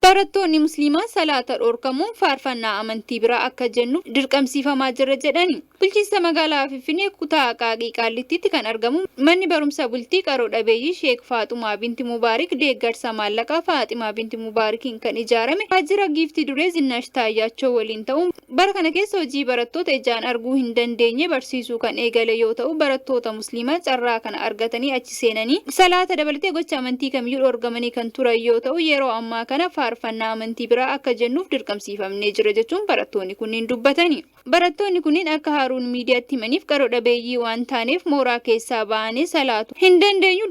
Barattoonni Musliimaa salaata dhorkamuun faarfannaa amantii biraa akka jennuuf dirqamsiifamaa jirra jedhani. Bulchiinsa magaalaa Finfinnee kutaa Aqaaqii Qaallittiitti kan argamu manni barumsa bultii qaro dhabeeyyii Sheek Faaxumaa Binti Mubaarik deeggarsa maallaqaa Faaximaa Binti Mubaarikiin kan ijaarame waajjira Giiftii Duree Zinnaash Taayyaachoo waliin ta'uun Bara kana keessa hojii barattoota ijaan arguu hin dandeenye barsiisuu kan eegale yoo ta'u, barattoota Musliimaa carraa kana argatanii achi seenanii salaata dabalatee gocha amantii kamiyyuu dhoorgamanii kan turan yoo ta'u, yeroo ammaa kana faarfannaa amantii biraa akka jennuuf dirqamsiifamnee jirra jechuun barattoonni kunniin dubbatani. Barattoonni kunniin akka Haaruun Miidiyaatti himaniif qaro dhabeeyyii waan taaneef mooraa keessaa baanee salaatu hin dandeenyu.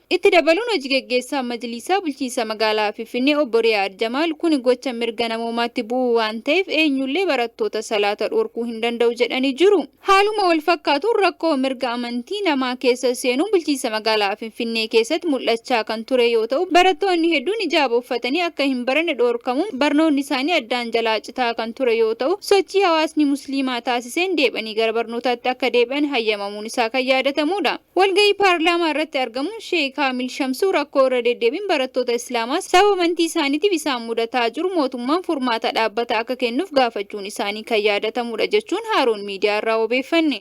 Itti dabaluun Hoji-gaggeessaan Majliisaa Bulchiinsa Magaalaa Finfinnee Obbo Riyaad Jamaal kuni gocha mirga namoomaatti bu'uu waan ta'eef eenyullee barattoota salaata dhorkuu hin danda'u jedhanii jiru. Haaluma wal fakkaatuun rakkoo mirga amantii namaa keessa seenuun Bulchiinsa Magaalaa Finfinnee keessatti mul'achaa kan turee yoo ta'u barattoonni hedduun hijaaba uffatanii akka hin baranne dhorkamuun barnoonni isaanii addaan jalaa citaa kan ture yoo ta'u sochii hawaasni Musliimaa taasiseen deeb'anii gara barnootaatti akka deebi'an hayyamamuun isaa kan yaadatamuudha. Walga'ii paarlaamaa irratti argamuun Sheeh Kaamil Shamsuu rakkoo irra deddeebiin barattoota Islaamaa sababa amantii isaaniitiif isaan mudataa jiru mootummaan furmaata dhaabbataa akka kennuuf gaafachuun isaanii kan yaadatamuudha jechuun Haaruun Miidiyaa irraa wabeeffanne.